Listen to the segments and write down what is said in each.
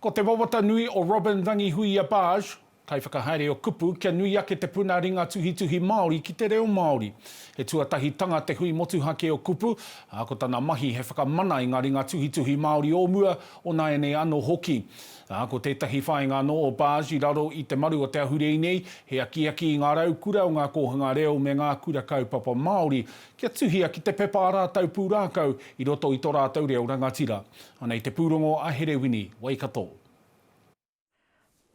Ko te wawata nui o Robyn Rangihuia Barge, kaiwhakahaere o kupu, kia nui ake te puna ringa tuhituhi Māori ki te reo Māori. He tuatahitanga te hui motuhake o kupu, ā, ko tana mahi he whakamana i ngā ringa tuhituhi Māori o mua, o nāianei anō hoki. Ā, ko tētahi whāinga anō o Barge i raro i te maru o Te Ahurei nei, he akiaki i ngā raukura o ngā kōhanga reo me ngā kura kaupapa Māori kia tuhia ki te pepa ā rātou pūrākau i roto i tō rātou reo rangatira. Ana i te pūrongo a Herewini Waikato.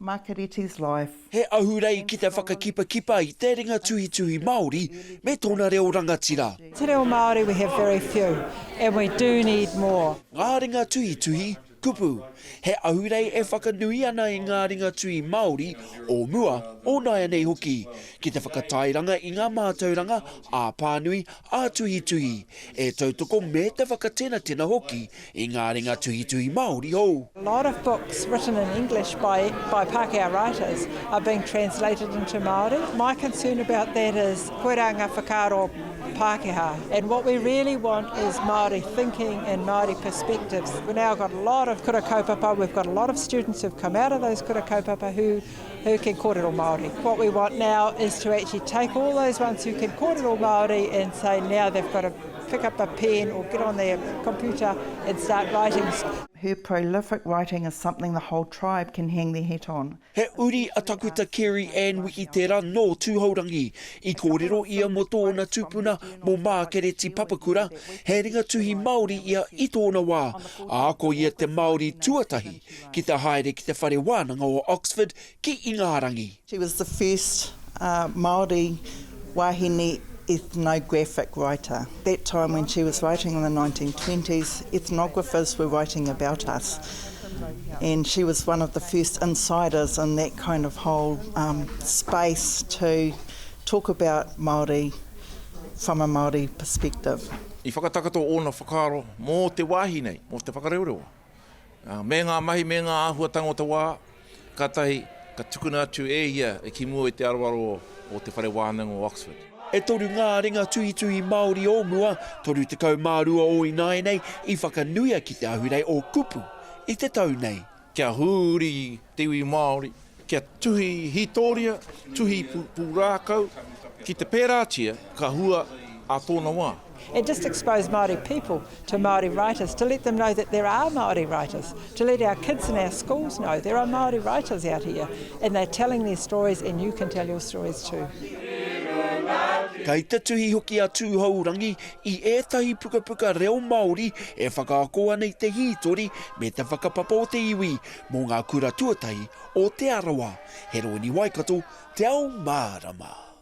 Makereti's life. He ahurei ki te whakakipakipa i te ringa tuhituhi Māori me tōna reo rangatira. Te reo Māori we have very few and we do need more. Ngā ringa tuhituhi, kupu. He ahurei e whakanui ana i ngā ringa tuhi Māori o mua, o nāianei hoki, ki te whakatairanga i ngā mātauranga ā-pānui, Ā-tuhituhi, e tautoko me te whakatenatena hoki i ngā ringa tuhituhi Māori hou. A lot of books written in English by by Pākehā writers are being translated into Māori. My concern about that is koirā ngā whakaaro Pākehā and what we really want is Māori thinking and Māori perspectives. We've now got a lot of kura kaupapa, we've got a lot of students who've come out of those kura kaupapa who Who can kōrero Māori. What we want now is to actually take all those ones who can kōrero Māori and say now they've got to pick up a pen or get on their computer and start writing. Her prolific writing is something the whole tribe can hang their hat on. He uri a Takuta Kerry Ann Wikitera nō Tūhourangi. I kōrero ia mō tōna tupuna mō Mākereti Papakura, he ringa tuhi Māori ia i tōna wā, ā, ko ia te Māori tuatahi Ki te haere ki te Whare Wānanga o Oxford ki Ingarangi. She was the first Māori wāhine ethnographic writer. That time when she was writing in the 1920s, ethnographers were writing about us and she was one of the first insiders in that kind of whole space to talk about Māori from a Māori perspective. I whakatakoto ōna whakaaro mō te wāhi nei, mō te whakareoreoa. me ngā mahi, me ngā āhuatanga o te wā, kātahi ka tukuna atu e ia ki mua i te aroaro o Te Whare Wānanga o Oxford. E toru ngā ringa tuhituhi Māori o mua, 32 o ināianei, i whakanuia ki te Ahurei o Kupu i te tau nei. Kia huri te iwi Māori, Kia tuhi hītoria, tuhi pūrākau, ki te pērātia ka hua ā tōna wā. And just expose Māori people to Māori writers, to let them know that there are Māori writers, to let our kids in our schools know there are Māori writers out here and they're telling their stories and you can tell your stories too. Kei te tuhi hoki a Tūhourangi i ētahi pukapuka reo Māori e whakaako ana i te hītori me te whakapapa o te iwi, Mō ngā kura tuatahi o Te Arawa, he rōni Waikato, Te Ao Mārama.